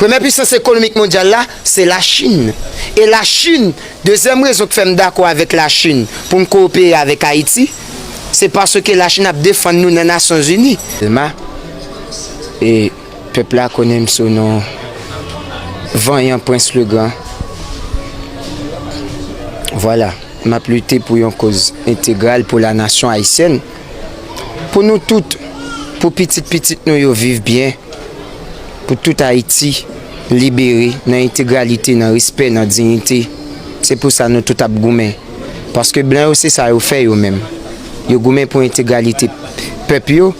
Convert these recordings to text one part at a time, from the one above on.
Premyè pisans ekonomik mondyal la se Lachin e Lachin, dezyèm rezon k fè m dakò avèk Lachin pou n kowopere avèk Ayiti se paske Lachin ap defann nou nan Nasyonzini. Tèlman e pèp la konnen m sou non vanyan Prens le Gran. Vwala, m ap lite pou yon koz entegral pou lanasyon ayisyèn. Pou nou tout, pou pitit pitit nou yo viv byen, pou tout Ayiti libere nan entegralite, nan respè, nan dignite. Se pou sa nou tout ap goumen. Paske blan yo se sa yo fè yo menm. Yo goumen pou entegralite pèp yo,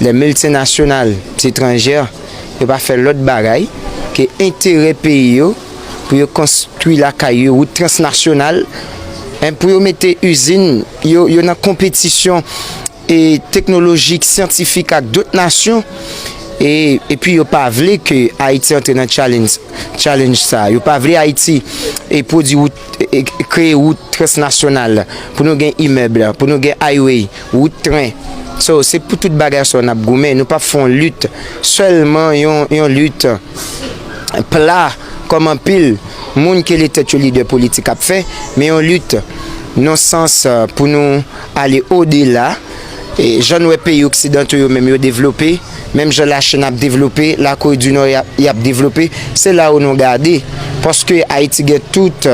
lè miltinasyonal etranjè yo pa fè lòt bagay ke enterè peyi yo. pou yo konstwi lakay yo, wout transnasyonal, pou yo mete izin yo, yo nan konpetisyon teknolojik, syantifik ak dot nasyon, epi yo pa vle ke Ayiti antre nan tchalenj sa, yo pa vle Ayiti pwodwi wout. kreye wout transnasyonal, pou nou gen imèb, pou nou gen highway, wout tren. So, se pou tout bagay sa yo n ap goumen. Nou p ap fè yon lit sèlman, yon lit pla kòm anpil moun ki rele tèt yo lidè politik ap fè, men yon lit nan sans pou nou. Ale odela, jan n wè peyi oksidanto yo menm yo devlope, menm jan Lachin ap devlope, Lakore di Nò y ap devlope, se la ou nou gade. Paske Ayiti gen tout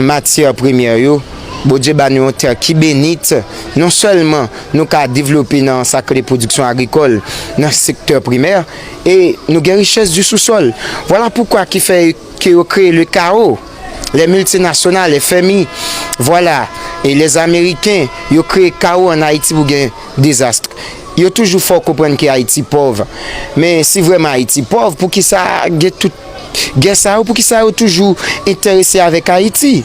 matyè premyè yo, Bondye ba nou yon tè ki benit, non sèlman nou ka devlope nan sa k rele pwodiksyon agrikòl, nan sektè primè, e nou gen richès di sousòl. Vwala poukwa ki fè ke yo kreye lekawo. les multinationales, les FMI, voilà, et les Américains, yo kreye kawo an Ayiti pou gen dezast. Yo toujou fè w konprann ke Ayiti pòv. Men si vrèman Ayiti pòv, poukisa gen tout gè sa yo, poukisa yo toujou enterese avèk Ayiti?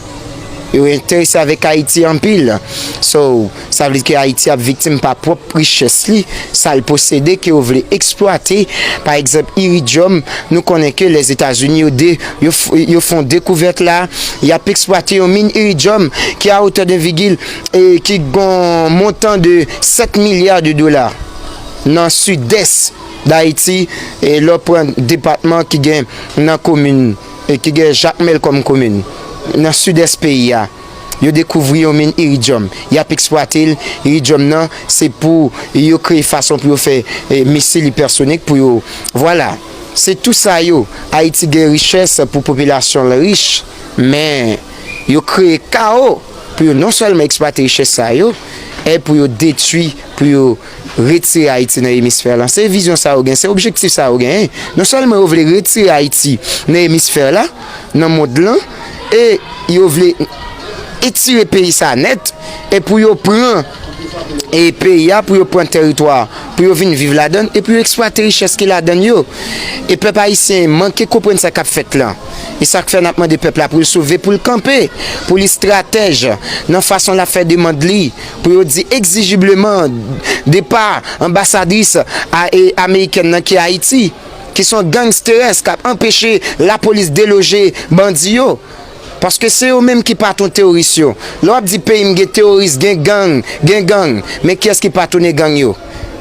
Yo enterese avèk Ayiti anpil. So. Sa vle di ke Ayiti ap viktim pa pwòp richès li, sa l posede ke yo vle eksplwate. Pa egzanp, iridyòm, nou konnen ke Lèzetazini yo de, yo fon dekouvèt la, y ap eksplwate yon min iridyòm ki a otè de vigil, ki gon montan de 7 milya de dola nan sidès Dayiti, lè w pran depatman ki gen nan komin, ki gen Jakmèl kòm komin, nan sidès peyi a. yo dekouvri yon min iridyòm, y ap eksplwate l. Iridyòm nan, se pou yo kreye fason pou yo fè misil ipèsonik pou yo. Vwala, se tou sa yo. Ayiti gen richès pou popilasyon l rich, men yo kreye kawo pou yo non sèlman eksplwate richès sa yo, e pou yo detwi, pou yo. retire Ayiti nan emisfè la. Se vizyon sa yo gen, se objektif sa yo genyen. Non sèlman yo vle retire Ayiti nan emisfè la, nan mond lan, e yo vle etire peyi sa a nèt, e pou yo pran e peyi a, pou yo pran tèritwa a, pou yo vin viv ladan l, e pou yo eksplwate richès ki ladan l yo. E pèp ayisyen manke konprann sa k ap fèt lan. E sa k fè n ap mande pèp la pou l sove, pou l kanpe, pou l estratèj nan fason l ap fè demand li. pou yo di egzijibleman depa anbasadris amerikèn nan ki Ayiti, ki son gangsteres kap anpeche lapolis deloje bandi yo, paske se yo menm ki patron teoris yo, lè wap di peyim gen teoris gen gang gen gang men kiyès ki patrone gang yo?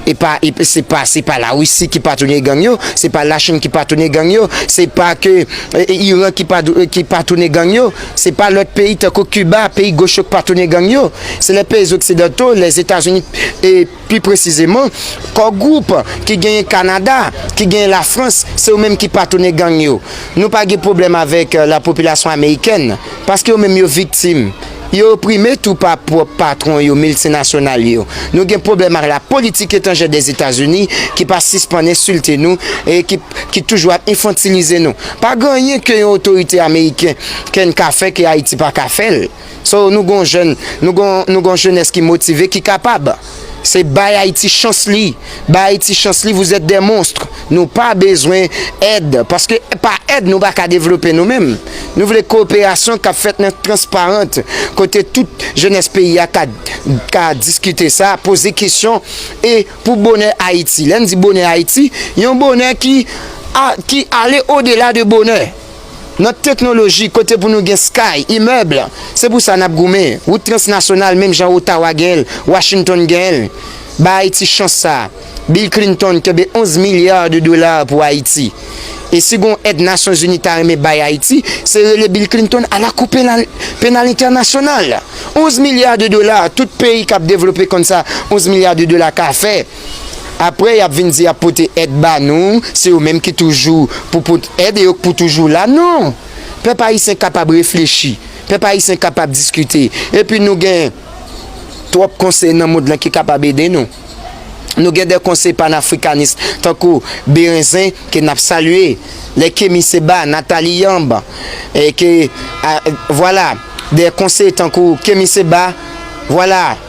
E pa e p se pa se pa la Russie ki patwone gang yo, se pa la Chine ki patwone gang yo, se pa ke e Iran ki pa e ki patwone gang yo, se pa lòt peyi tankou Cuba, peyi goch yo k patwone gang yo, se lè peyi zoksidanto, lè Etazini e pi presizeman Core Group ki genyen Kanada, ki genyen la Frans, se yo menm ki patwone gang yo. Nou pa gen pwoblèm avèk la popilasyon amerikèn, paske yo menm yo viktim. Yo oprime tou pa pwòp patwon yo, miltinasyonal yo. Nou gen pwoblèm ak la politik etanjè Dèzetazini ki pa sispann ensilte nou e ki toujou ap enfantilize nou. Pa gen anyen ke yon otorite ameriken kenn ka fè ke Ayiti pa ka fè l. So nou gen yon jèn, nou gen yon jenès ki motive, ki kapab. Se bay Ayiti chans li, bay Ayiti chans li vous êtes des monstres. Nou pa bezwen èd paske pa èd nou pa ka devlope nou menm. Nou vle koperasyon kap fèt nan transparent kote tout jenès peyi a ka diskite sa, poze kesyon e pou bonè Ayiti. Lè n di bonè Ayiti, yon bonè ki ale odela de bonè. Nan teknoloji, kote pou nou gen sky, imèb, se pou sa n ap goumen. Wout transnasyonal menm jan Ottawa gen l, Washington gen l. Ba Ayiti chans sa a. Bill Clinton kenbe 11 milliards de dollars pou Ayiti. E si gon èd Nasyon Zini ta renmen bay Ayiti, se rele Bill Clinton a la Kou Penal Entènasyonal. 11 milliards de dollars, tout peyi k ap devlope konn sa 11 milliards de dollars ka fè. aprè yap vin di yap pote èd ba nou se yo menm ki toujou pou pot èd e yo k pou toujou la non pèp ayisyen kapab reflechi pèp ayisyen kapab diskite epi nou gen twòp konseye nan mond lan ki kapab ede nou nou gen de konseye panafrikanis tankou berenzen ke nap salye lè kemi seba natali yanb e ke vwala de konseye tankou kemi seba vwala.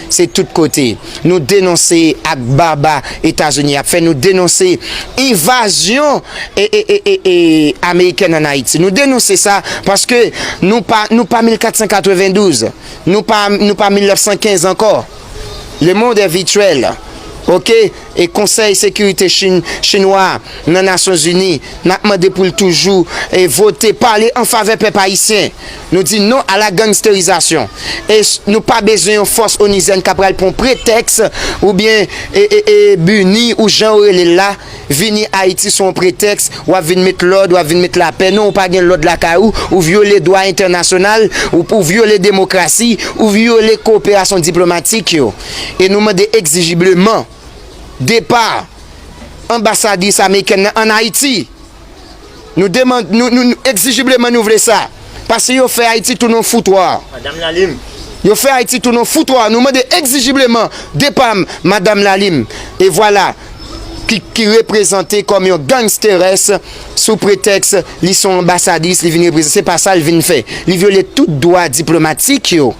Se tout kote nou denonse ak baba etazini ap fè nou denonse invazyon amerikèn an ayiti nou denonse sa paske nou pa nou pa 1492 nou pa nou pa 1915 ankò le monde est virtuel ok. e Konsèy Sekirite Chin Chinwa a nan Nasyon Zini, n ap mande pou l toujou e vote pale an favè pèp ayisyen. Nou di non a la gangsterizasyon e nou pa bezwen yon fòs onizèn k ap pral pran yon pretèks oubyen e buni ou jan yo rele l la vini Ayiti sou yon pretèks w ap vin met lòd, w ap vin met lapè. Non ou pa gen lòd lakay ou, ou vyole dwa entènasyonal, ou vyole demokrasi, ou vyole koperasyon diplomatik yo. e nou mande egzijibleman depa anbasadris amerikèn nan an Ayiti. Nou deman, nou, nou, nou egzijibleman nou vle sa. Pase yo fè Ayiti tounen yon foutwa. Madam Lalim. Yo fè Ayiti tounen yon foutwa. Nou mande egzijibleman depa Madam Lalim. E vwala, ki, ki reprezante kòm yon gangsteres sou pretèks li son anbasadris li vin reprezante. Se pa sa li vin fè. Li vyole tout dwa diplomatik yo.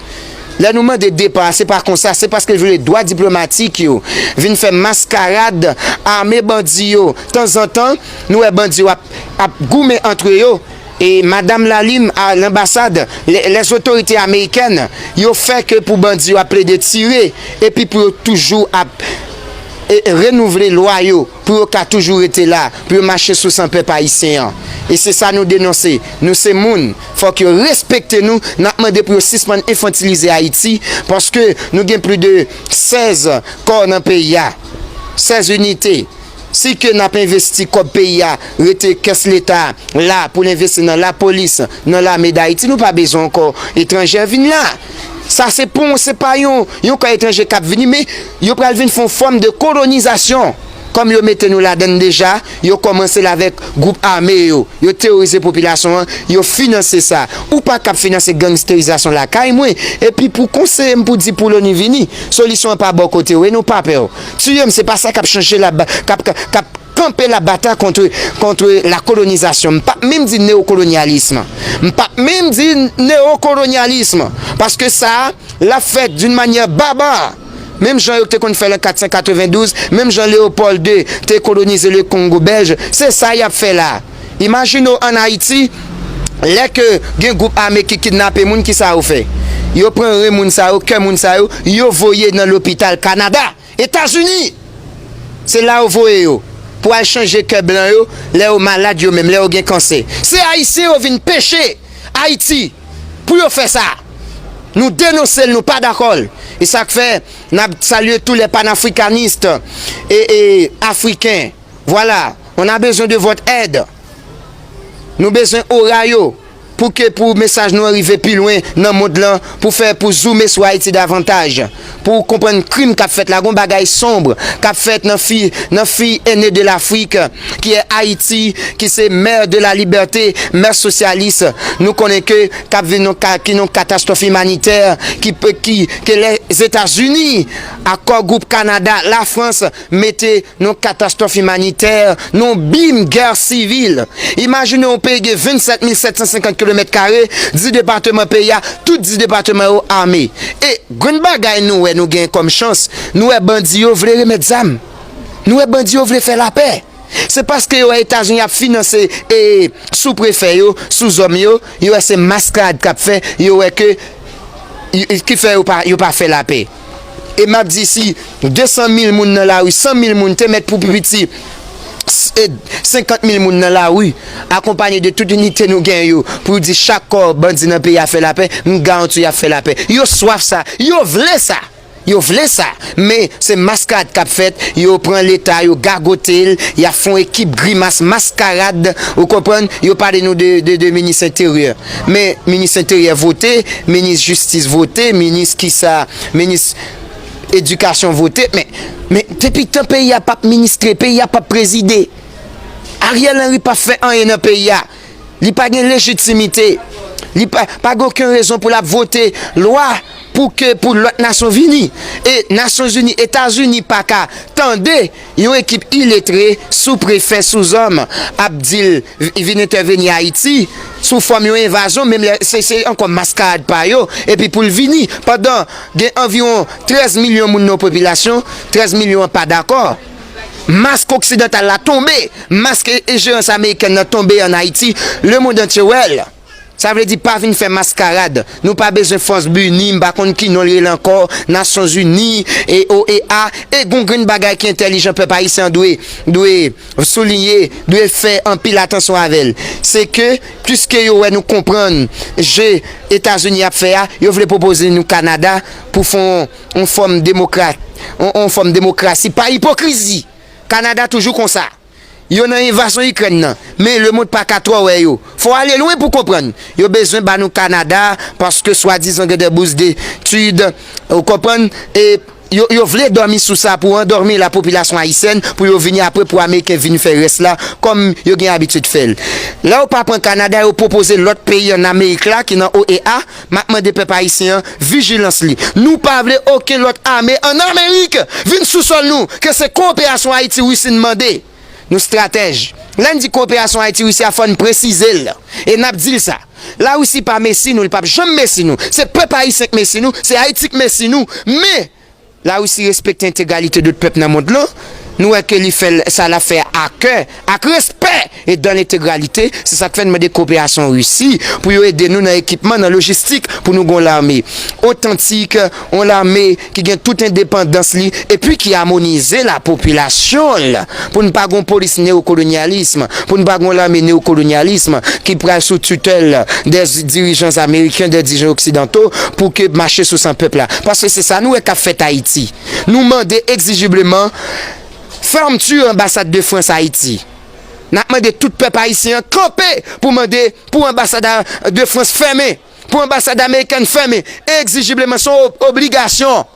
Lè nou mande depa a se pa konsa, se paske yo vle dwa diplomatik yo vin fè maskarad ame bandi yo. Tanzantan, nou wè bandi yo ap goumen antre yo. E Madam Lalime a lanbasad, lèzotorite amerikèn yo fè ke pou bandi yo ap plede tire epi pou yo toujou ap renouvle lwa yo. pou yo ka toujou rete la, pou yo mache sou san pèp ayisyen an. E se sa nou denonse. Nou se moun, fòk yo respekte nou, n ap mande pou yo sispann enfantilize Ayiti, paske nou gen pli de 16 kò nan peyi a, 16 inite. Si ke n ap envesti kòb peyi a, rete kès leta la pou l envesti nan lapolis, nan lame Dayiti, nou pa bezwen ankò etranjè vin la. Sa se pa yon se pa yon yon kan etranje kap vini men yo pral vin fon fòm de kolonizasyon kòm yo mete nou ladann deja yo kòmanse l avèk gwoup ame yo yo teworize popilasyon an yo finanse sa ou pa kap finanse gangsterizasyon lakay mwen epi pou konseye m pou di pou loni vini solisyon an pa bò kote w e nou pa pè w tiye m se pa sa kap chanje la kap kap kanpe la bata kontre kontre la kolonizasyon m pap menm di neokolonyalism m pap menm di neokolonyalism paske sa lap fèt d'une manière barbare menm jan yo te konn fèl an 492 menm jan Léopold 2 te kolonize le Congo belge se sa yap fè la imajine w an Ayiti lè ke gen gwoup ame ki kidnape moun kisa yo fè yo pran ren moun sa yo kè moun sa yo yo voye nan lopital Canada. Etazini! Se la yo voye yo pou al chanje kè blan yo lè yo malad yo menm, lè yo gen kansè. Se Ayisyen yo vin peche Ayiti pou yo fè sa. Nou denonse l, nou pa dakò l. E sa k fè n ap salye tou lè panafrikanis e e afriken. Voilà on a besoin de votre aide Nou bezwen ora yo pou ke pou mesaj nou an rive pi lwen nan mond lan pou fè pou zoume sou Ayiti davantaj pou konprann krim kap fèt la gon bagay sombre kap fèt nan fi nan fi ene de lafrik ki è Ayiti ki se mère de la liberté mère sosyalis nou konnen ke kap vin non ka ki non katastwòf imanitè ki pe ki ke lè Zetazini akò gwoup Kanada lafrans mete Yon katastwòf imanitè, yon bim gè sivil. Imajine yon peyi gen 27 mil 750 kilomèt kare, 10 depateman peyi a, tout 10 depateman yo ame. E, grenn bagay nou wè nou gen kòm chans, nou wè bandi yo vle remèt zam. Nou wè bandi yo vle fè lapè. Se paske yo wè Etazini ap finanse e sou prefè yo, sou zòm yo, yo wè se maskarad k ap fè, yo wè ke ki fè yo pa fè lapè. e map di si 200 mil moun nan lari 100 mil moun te mèt pou pi piti 50 mil moun nan lari akonpanye de tout inite nou gen yo pou di chak kò bandi nan peyi a fè lapè m garanti w yap fè lapè yo swaf sa yo vle sa yo vle sa men se maskarad kap fèt yo pran leta yo gagote l yap fon ekip grimas maskarad ou konprann yo pale nou de minis enteryè. Men minis enteryè vote, minis jistis vote, minis kisa, minis edikasyon vote, men men depi tan peyi a pap ministre, peyi a pap prezide. Ariel Henry pa fè anyen nan peyi a. Li pa gen lejitimite. Li pa pa gen oken rezon pou lap vote lwa pou ke pou lòt nasyon vini. E Nasyonzini, Etazini paka tande. Yon ekip iletre sou prefè souzòm ap dil vin entèveni ayiti sou fòm yon envazyon menm lè se se ankò maskarad pa yo epi poul vini pandan gen anviwon 13 milyon moun nan popilasyon 13 milyon an pa dakò mask oksidantal la tonbe mask enjerans amerikèn nan tonbe an ayiti lemond antye wèl. Sa vle di pa vin fè maskarad. Nou pa bezwen fòs bni m pa konn ki non l rele ankò, nasyon zini, OEA, e gon grenn bagay ki entèlijan pèp ayisyen an dwe, dwe soulinye, dwe fè anpil atansyon avè l, se ke piske yo wè nou konprann je Etazini ap fè a, yo vle pwopoze nou Kanada pou fè on fòm demokrat, on fòm demokrasi pa ipokrizi! Kanada toujou konsa. Yo nan envazyon ikrèn nan men lemond paka twò wè yo fò ale lwen pou konprann yo bezwen ba nou Canada paske swadizan gen de bous de tud ou konprann e yo yo vle dòmi sou sa pou andòmi la popilasyon ayisyèn pou yo vini apre pou ameriken vin fè rès la kòm yo gen abitud fèl lè yo pa pran Canada yo pwopoze lòt peyi an amerik la ki nan OEA Map mande pèp ayisyen an vijilans li. Nou pa vle oken lòt ame an Amerik vin sou sòl nou ke se koperasyon Ayiti Risi n mande. Nou stratèj. Lè n di koperasyon Ayiti Risi a fò n presize l e nap di l sa. Larisi pa mesi nou li pap janm mesi nou. Se pèp ayisyen k mesi nou, se Ayiti k mesi nou. Men! La Russie respekte entegralite dot pèp nan mond lan, nou wè ke li fè sa lap fè a kè, ak respè e dan lentegralite, se sak fè n mande koperasyon Russie pou yo ede nou nan ekipman, nan lojistik pou nou gen yon lame otantik, yon lame ki gen tout endepandans li epi ki amonize la popilasyon l. pou n pa gon polis neokolonyalism, pou n pa gon lame neokolonyalism ki pral sou tutèl dè dirijans ameriken, dè dirijans oksidanto pou ke mache sou san pèp la. Paske se sa nou wè k ap fèt Ayiti. Nou mande egzijibleman fermeture anbasad de Frans Ayiti. N ap mande tout pèp ayisyen an kanpe pou mande pou anbasad de Frans fèmen, pou anbasad amerikèn fèmen egzijibleman. Se yon obligasyon.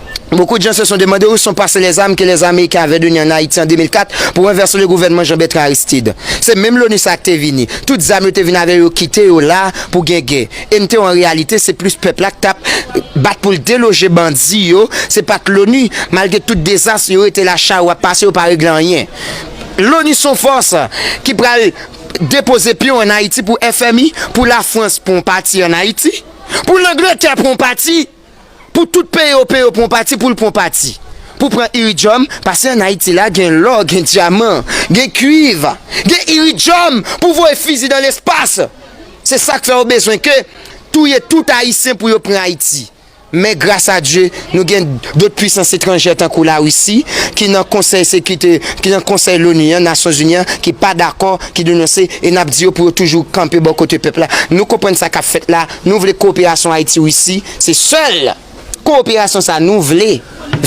Beaucoup de gens se sont demandé où sont passées les armes que les Américains avaient données en Haïti en 2004 pour renverser le gouvernement Jean-Bertrand Aristide. Se menm l'ONU sa a ki te vini. Tout zam yo te vin avè yo kite yo la pou gen gè. E mte en réalité se plus pèp la ki tap bat pou l deloge bandi yo, se pat l'ONU. Malgré tout dezas yo rete la charrue ap pase yo pa regle anyen. L'ONU son fòs ki pral depoze pyon en Haïti pou FMI, pou la France pran yon pati en Haïti, pou l'Angleterre pran yon pati. Pou tout peyi ope yo pran yon pati poul pran yon pati pou pran iridjòm pase an ayiti la gen lò gen dyaman gen kwiv gen iridjòm pou voye fizi dan lespas se sak fè yo bezwen ke touye tout ayisyen pou yo pran ayiti men gras a dye nou gen dot pwisans etranjè tankou la risi ki nan konsèy sekite ki nan konsèy loni an nasyon zini an ki pa dakò ki denonse e nap di yo pou yo toujou kanpe bò kote pèp la nou konprann sa kap fèt la. Nou vle koperasyon Ayiti Risi se sèl koperasyon sa nou vle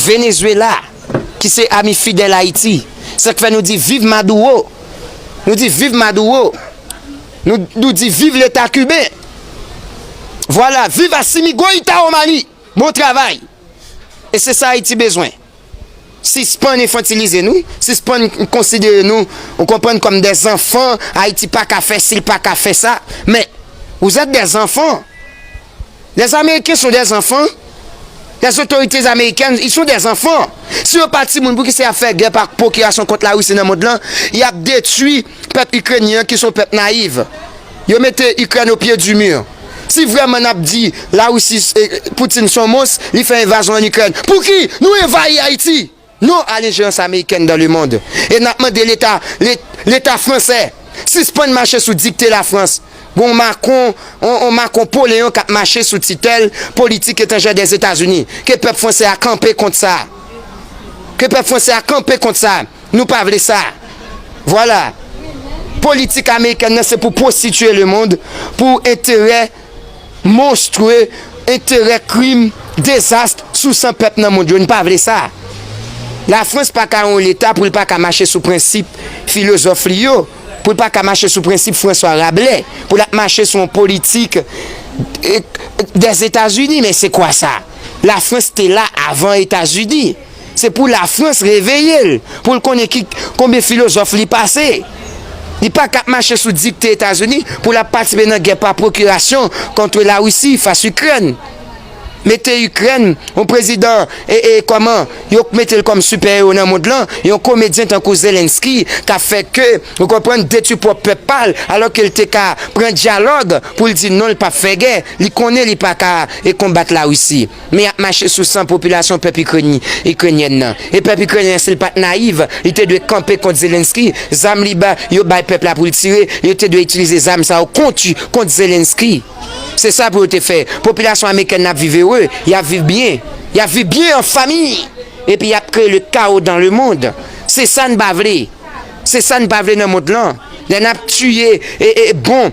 Venezuela ki se ami fidèl Ayiti sak fè nou di viv Maduro nou di viv Maduro nou di viv leta kiben vwala viv Asimi Goita Omani bon travay e se sa Ayiti bezwen. Sispann enfantilize nou, sispann konsidere nou ou konprann kòm dè zanfan, Ayiti pa ka fè si l pa ka fè sa, men ou zèt dè zanfan. Lè zameriken son dè zanfan, lè zotorite zamerikèn y son dè zanfan. Si yo pa timoun poukisa y ap fè gè pa pwokirasyon kont la Risi nan mond lan, y ap detwi. Pèp Ikrenyen an ki son pèp nayiv. Yo mete Ikrèn o pye di mur. Si vrèman nap di la Russie se Putin son mons li fè envazon an Ikrèn pouki nou envayi Ayiti non a lenjerans Amerikèn dan le mond e nap mande leta leta fransè sispann mache sou dikte la Frans gon Macron on Macron po leyon kap mache sou titèl politik etanjè dè Etazini ke pèp fransè a kanpe kont sa ke pèp fransè a kanpe kont sa. Nou pa vle sa. Vwala. Politik amerikèn nan se pou pwostitiye lemond pou enterè monstwe, enterè krim, dezast sou san pèp nan mond yo. Nou pa vle sa. Lafrans pa ka yon leta pou l pa ka mache sou prensip filozòf li yo, pou l pa ka mache sou prensip Franswa Rablè, pou l ap mache sou yon politik dèzetazini. Men se kwa sa? Lafrans te la avan Etazini. Se pou Lafrans reveye l, pou l konnen ki konbyen filozòf li pase. Li pa ka ap mache sou dikte Etazini pou l ap patisipe nan gè pa pwokirasyon kontre Larisi fas Ikrèn. Mete Ikrèn, yon prezidan e e kòman yo k mete l kòm sipè ewo nan mond lan, yon komedyen tankou Zelensky k ap fè ke, ou konprann, detwi pwòp pèp pa l, alò ke l te ka pran dyalòg pou l di non l p ap fè gè, li konnen li pa ka e konbat Larisi. men yap mache sou san popilasyon pèp Ikrenyen nan. E pèp Ikrenyen an si l pat nayiv, li te dwe kanpe kont Zelensky, zam li ba yo bay pèp la pou l tire, yo te dwe itilize zam sa yo kont yo, kont Zelensky. Se sa pou yo te fè. Popilasyon Amekèn nan ap viv ere, yap viv byen. Yap viv byen an fami. Epi yap kreye le kawo dan le mond. Se sa n pa vle. Se sa n pa vle nan mond lan. Lè nap tiye e bon.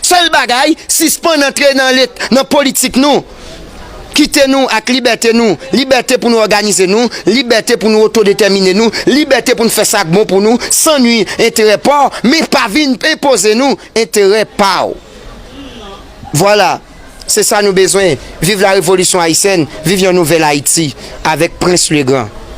Sèl bagay, sispann antre nan lit, nan politik nou. Kite nou ak libète nou, libète pou nou òganize nou, libète pou nou otodetèmine nou, libète pou n fè sa k bon pou nou, san nwi enterè pa w, men pa vin enpoze nou enterè pa w. Vwala, se sa nou bezwen. Viv la revolisyon ayisyèn, viv yon nouvèl Ayiti avèk Prens Legrand.